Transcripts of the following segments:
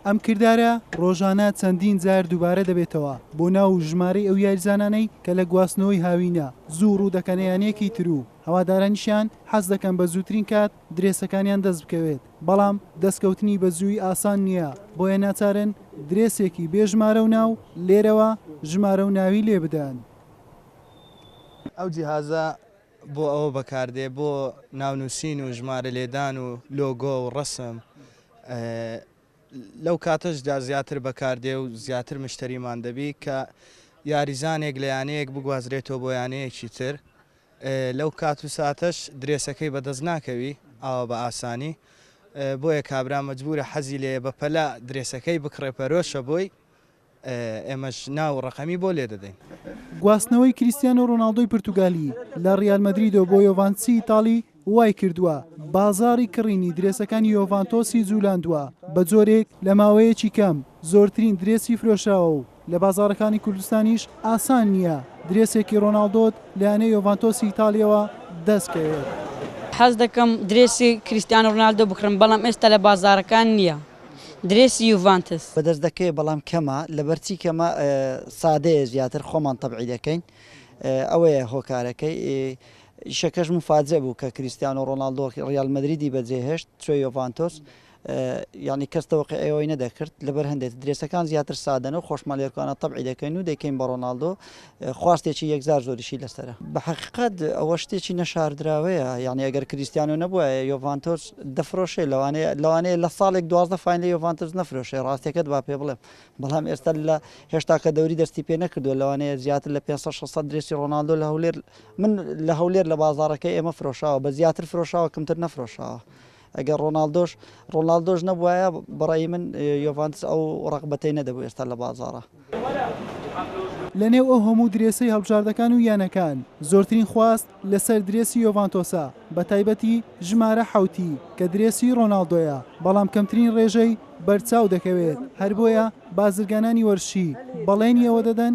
ئەم کردارە ڕۆژانە چەندین جار دووبارە دەبێتەوە بۆ ناو و ژمارەی ئەو یاریزانانەی کە لە گواستنەوەی هاوینە زوو ڕوو دەکەنە یانەیەکی تر و هەوادارانیشیان حەز دەکەن بە زووترین کات درێسەکانیان دەست بکەوێت بەڵام دەستکەوتنی بە زووی ئاسان نییە بۆیە ناچارن درێسێکی بێ ژمارە و ناو لێرەوە ژمارە و ناوی لێ بدەن. ئەو جیهازە بۆ ئەوە بەکاردێ بۆ ناونووسین و ژمارە لێدان و لۆگۆ و ڕەسم لەو کاتەشدا زیاتر بەکاردێ و زیاتر مشتریمان دەبی کە یاریزانێک لە یانەیەک بگوازرێتەوە بۆ یانەیەکی تر لەو کات و ساتەش درێسەکەی بەدەست ناکەوی ئاوا بە ئاسانی بۆیە کابرا مەجبورە حەزی لێ بەپەلا درێسەکەی بکڕێ پەرۆشە بۆی ئێمەش ناو و ڕەقەمی بۆ لێدەدەین. گواستنەوەی کریستیانۆ ڕۆناڵدۆی پرتوگالی لە ڕیال مەدریدەوە بۆ یۆڤانتسی ئیتاڵی وایکردووە بازاڕی کڕینی درێسەکانی یۆڤانتۆسی جوولاندووە بە جۆرێک لە ماوەیەکی کەم زۆرترین درێسی فرۆشراوە و لە بازاڕەکانی کوردستانیش ئاسان نییە درێسێکی ڕۆناڵدۆت لە یانەی یۆڤانتۆسی ئیتاڵییەوە دەستکەوێت. حەزدەکەم درێسی کریستیانۆ ڕۆناڵدۆ بکڕم، بەڵام ئێستا لە بازاڕەکان نییە. درێسی یوڤانتس. بەدەست دەکەوێت بەڵام کەمە لەبەر چی کەمە سادەیە زیاتر خۆمان تەبعی دەکەین ئەوەیە هۆکارەکەی ئیشەکەش مفاجئ بوو کە کریستیانۆ ڕۆناڵدۆ ڕیال مەدریدی بەجێهێشت چوە یۆڤانتۆس یعنی کەس تەوەقی ئەوەی نەدەکرد لەبەر هەندێت درێسەکان زیاتر سادەنە و خۆشمان لێرکانە تەبعی دەکەین و دەکەین بە ڕۆناڵدۆ خواستێکی یەکجار زۆریشی لەسەرە. بە حەقیقەت ئەوە شتێکی نەشاردراوەیە، یانی ئەگەر کریستیانۆ نەبوایە یۆڤانتۆس دەفرۆشێ، لەوانەیە لەوانەیە لە ساڵێک دوازدە فاین لە یۆڤانتۆس نەفرۆشێ، ڕاستیەکەت با پێ بڵێم، بەڵام ئێستا لە هێشتا کە دەوری دەستی پێ نەکردووە، لەوانەیە زیاتر لە پێنج سەد شەش سەد درێسی ڕۆناڵدۆ لە هەولێر من لە هەولێر لە بازاڕەکەی ئێمە فرۆشاوە، بە زیاتر فرۆشاوە کەمتر نەفرۆشاوە. ئەگەر ڕۆناڵدۆش ڕۆناڵدۆش نەبوایە بەڕای من یۆڤانتس ئەو ڕەقبەتەی نەدەبوو ئێستا لە بازاڕە. لەنێو ئەو هەموو درێسەی هەڵبژاردەکان و یانەکان، زۆرترین خواست لەسەر درێسی یۆڤانتۆسە، بەتایبەتی ژمارە حەوتی کە درێسی ڕۆناڵدۆیە، بەڵام کەمترین ڕێژەی بەرچاو دەکەوێت، هەر بۆیە بازرگانانی وەرشی بەڵێنی ئەوە دەدەن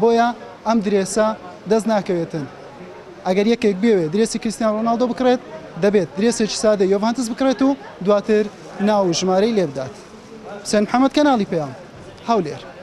بۆیە ئەم درێسە دەست ناکەوێتن ئەگەر یەکێک بێوێ درێسی کریستیانۆ رۆناڵدۆ بکڕێت دەبێت درێسێکی سادەی یۆڤانتس بکڕێت و دواتر ناو و ژمارەی لێبدات حوسێن محەمەد کەناڵی پەیام هەولێر.